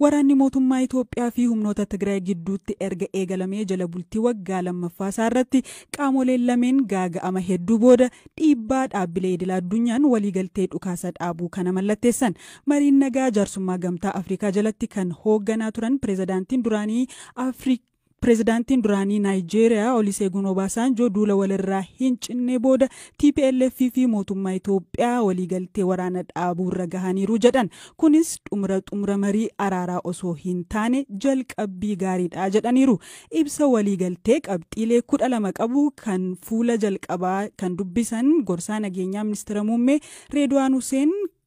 Waraanni mootummaa Itoophiyaa fi humnoota Tigraay gidduutti erga eegalamee jala bultii waggaa lammaffaa isaa irratti qaamoleen lameen gaaga'ama hedduu booda dhiibbaa dhaabbilee idila addunyaan waliigaltee dhukaasa dhaabuu kana mallatteessan. Mariin nagaa jaarsummaa Gamtaa Afrikaa jalatti kan hoogganaa turan pirezidaantiin duraanii Afrikaa Pirezidaantiin duraanii Naayijeeriyaa Oliseegun Obaasaanjoo duula walirraa hin cinnee booda tplf fi mootummaa Itoophiyaa waliigaltee waraana dhaabuurra gahaniiru jedhan. Kunis xumura xumura marii araaraa osoo hin taane jalqabbii gaariidha jedhaniiru. Ibsa waliigaltee qabxiilee 12 qabu kan fuula jalqabaa kan dubbisan gorsaa nageenyaa Ministira Muummee Reedwaan Huseen,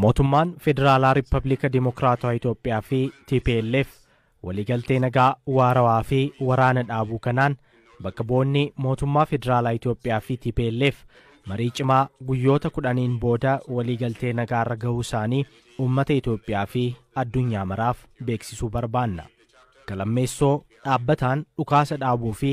Mootummaan Federaalaa Rippabiliika Dimokiraatawaa Itoophiyaa fi tplf waliigaltee nagaa waarawaa fi waraana dhaabuu kanaan bakka bu'oonni mootummaa Federaalaa Itoophiyaa fi tplf marii cimaa guyyoota kudhaniin booda waliigaltee nagaarra gahuu isaanii uummata Itoophiyaa fi addunyaa maraaf beeksisuu barbaanna. Galammeessoo dhaabbataan dhukaasa dhaabuu fi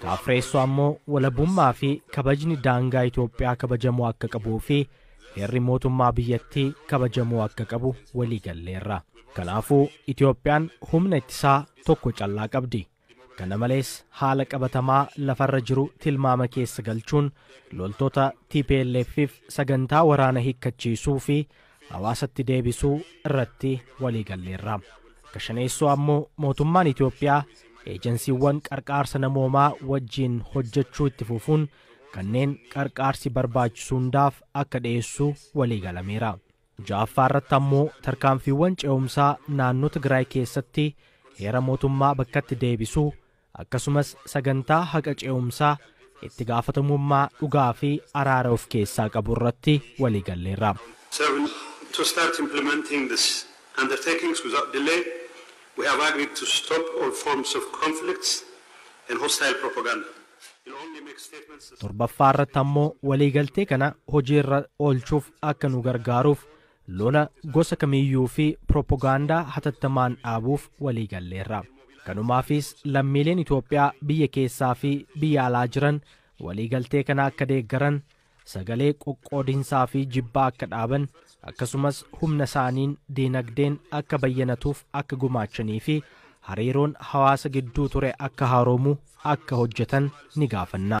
Ka afreessoo ammoo walabummaa fi kabajni daangaa Itoophiyaa kabajamuu akka qabuu fi heerri mootummaa biyyattii kabajamuu akka qabu walii galleerra. Kanaafuu Itoophiyaan humna ittisaa tokko callaa qabdi. Kana malees haala qabatamaa lafarra jiru tilmaama keessa galchuun loltoota tplf fi sagantaa waraana hikkachiisuu fi hawaasatti deebisuu irratti waliigalleerra. Ka shaneessoo ammoo mootummaan Itoophiyaa eejansiiwwan qarqaarsa namoomaa wajjiin hojjechuu itti fufuun kanneen qarqaarsi barbaachisu hundaaf akka dhiyeessu waliigalameera. Ja'affaa irratti ammoo tarkaanfiiwwan ce'umsaa naannoo Tigraay keessatti heera mootummaa bakkatti deebisuu, akkasumas sagantaa haqa ce'umsaa itti gaafatamummaa dhugaa fi araara of keessaa qabu irratti walii galleerra. So to start implementing these undertakings without delay, we have agreed to stop all forms of conflicts and hostile propaganda. We'll only make statements as. Torbaffaa irratti ammoo waliigaltee kana hojii irra oolchuuf akka nu gargaaruuf Lola gosa kamiiyyuu fi piropogaandaa hatattamaan dhaabuuf waliigalleerra. Kanumaafiis lammiileen Itoophiyaa biyya keessaa fi biyya alaa jiran waliigaltee kana akka deeggaran, sagalee qoqqoodinsaa fi jibbaa akka dhaaban, akkasumas humna isaaniin diinagdeen akka bayyanatuuf akka gumaachanii fi hariiroon hawaasa gidduu ture akka haaroomu akka hojjetan ni gaafanna.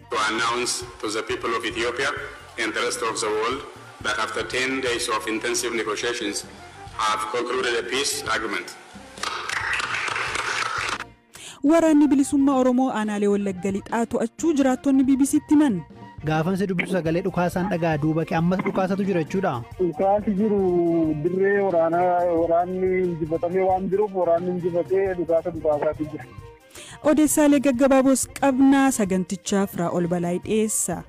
to announce to the people of Ethiopia and the rest of the world that after ten days of intensive negotiations have concluded a peace agreement. Waraanni Bilisummaa Oromoo Aanaalee Wallagga Lixaa To'achuu Jiraattonni BBC'tti Himan. Gaafan si dubbisu sagalee dhukaasaan dhaga'a duuba kee ammas dhukaasatu jira jechuudha. Dhukaasi jiru dirree waraanaa waraanni injifatamee waan jiruuf waraanni injifatee dhukaasa dhukaasaatii jira. Odeessaalee gaggabaaboos qabna sagantichaa Firaa'ol Balaay dhiyeessa.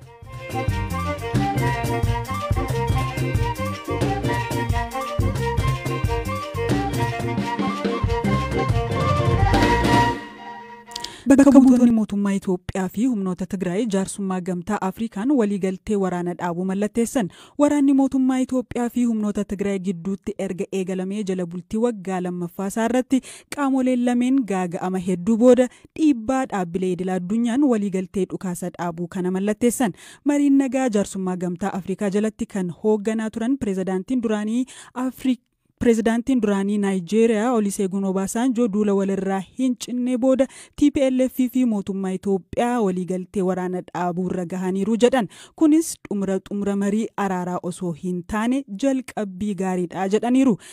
Bakka buutonni mootummaa Itoophiyaa fi humnoota Tigraay jaarsummaa gamtaa Afrikaan waliigaltee waraana dhaabuu mallatteessan. Waraanni mootummaa Itoophiyaa fi humnoota Tigraay gidduutti erga eegalamee jala bultii waggaa lammaffaa isaa irratti qaamoleen lameen gaaga'ama hedduu booda dhiibbaa dhaabbilee idila addunyaan waliigaltee dhukaasa dhaabuu kana mallatteessan. Mariin nagaa jaarsummaa gamtaa Afrikaa jalatti kan hoogganaa turan pirezidaantiin duraanii Afrikaa Pirezidaantiin duraanii Naayijeeriyaa Oliseegun Obaasaanjoo duula walirraa hin cinne booda TPLF fi mootummaa Itoophiyaa waliigaltee waraana dhaabuu irra gahaniiru jedhan. Kunis xumura xumura marii araaraa osoo hin taane jalqabbii gaariidha jedhaniiru.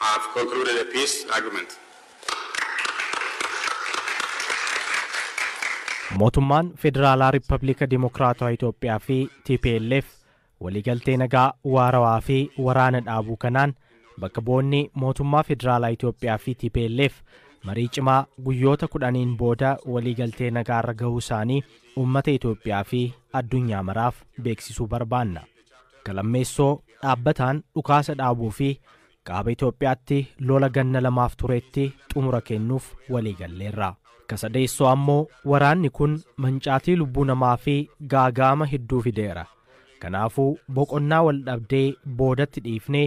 have concluded a peace agreement. Mootummaan Federaalaa Rippabiliika Dimokiraatawaa Itoophiyaa fi tplf waliigaltee nagaa waarawaa fi waraana dhaabuu kanaan bakka bu'oonni mootummaa Federaalaa Itoophiyaa fi tplf marii cimaa guyyoota kudhaniin booda waliigaltee nagaarra gahuu isaanii uummata Itoophiyaa fi addunyaa maraaf beeksisuu barbaanna. Ka lammeessoo dhaabbataan dhukaasa dhaabuu fi Kaaba Itoophiyaatti lola ganna lamaaf tureetti xumura kennuuf walii galleerra. Ka sadeessoo ammoo waraanni kun mancaatii lubbuu namaa fi gaaga'ama hedduu fideera. Kanaafuu boqonnaa wal dhabdee boodatti dhiifnee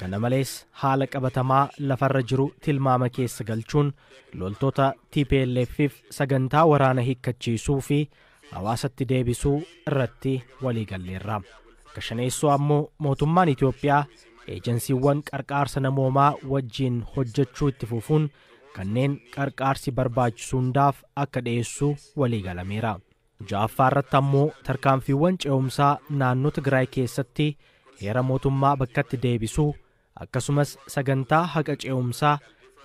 Kana malees haala qabatamaa lafarra jiru tilmaama keessa galchuun loltoota TPLF'f sagantaa waraana hikkachiisuu fi hawaasatti deebisuu irratti waliigalleerra. Akka shaneessoo ammoo mootummaan Itoophiyaa eejansiiwwan qarqaarsa namoomaa wajjiin hojjechuu itti fufuun kanneen qarqaarsi barbaachisu hundaaf akka dhiyeessu waliigalameera. 6ffaa irratti ammoo tarkaanfiiwwan ce'umsaa naannoo Tigraay keessatti heera mootummaa bakkatti deebisuu akkasumas sagantaa haqa ce'umsaa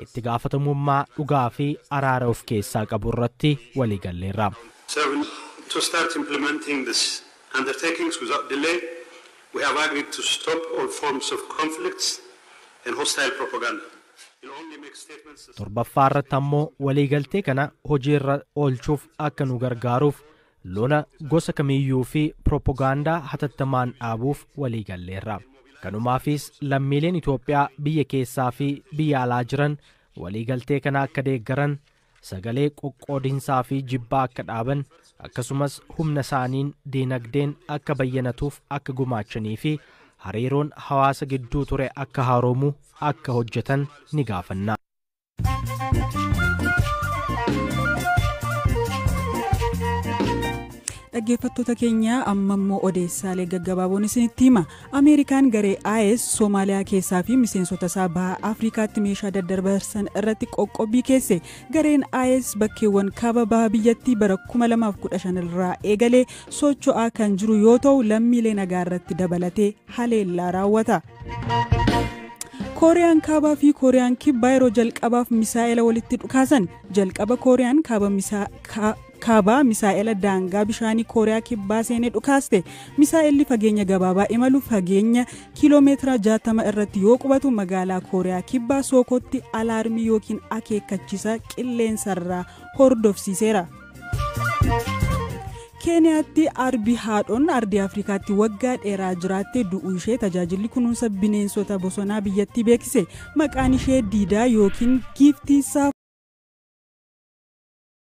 itti gaafatamummaa dhugaa fi araara of keessaa qabu irratti walii galleerra. 7 To start implementing these undertakings without delay, we have agreed to stop all forms of conflicts and hostile propaganda. Torbaffaa irratti ammoo waliigaltee kana hojiirra oolchuuf akka nu gargaaruuf lola gosa kamiyyuu fi pirooppogaandaa hatattamaan dhaabuuf waliigalleerra. Kanumaafis lammiileen Itoophiyaa biyya keessaa fi biyya alaa jiran waliigaltee kana akka deeggaran sagalee qoqqoodinsaa fi jibbaa akka dhaaban akkasumas humna isaaniin diinagdeen akka bayyanatuuf akka gumaachanii fi hariiroon hawaasa gidduu ture akka haaroomu akka hojjetan ni gaafanna. dhaggeeffattoota keenya amma immoo odeessaalee gaggabaaboon isinitti hima Ameerikaan garee IS Somaaliyaa keessaa fi miseensota isaa baha Afrikaatti meeshaa daddarbarsan irratti qoqqobbii keesse. Gareen IS bakkeewwan kaaba baha biyyattii bara 2015 irraa eegalee socho'aa kan jiru yoo ta'u lammiilee nagaa irratti dabalatee haleellaa raawwata. kooriyaan kaabaa fi kooriyaan kibbaa yeroo jalqabaaf misaa'ela walitti dhukaasan jalqaba kooriyaan kaaba Kaabaa misaa'ela daangaa bishaanii Kooriyaa Kibbaa seenee dhukaaste. Misaa'elli fageenya gabaabaa imalu fageenya kiiloomeetira 60 irratti yoo qubatu magaalaa Kooriyaa Kibbaa Sookootti alaarmii yookiin akeekkachiisa qilleensarraa hordofsiiseera. keeniyaatti arbi haadhoon ardii afrikaatti waggaa dheeraa jiraatte du'uu ishee tajaajilli kunuunsa bineensota bosonaa biyyattii beeksise maqaan ishee diidaa yookiin giiftiisaa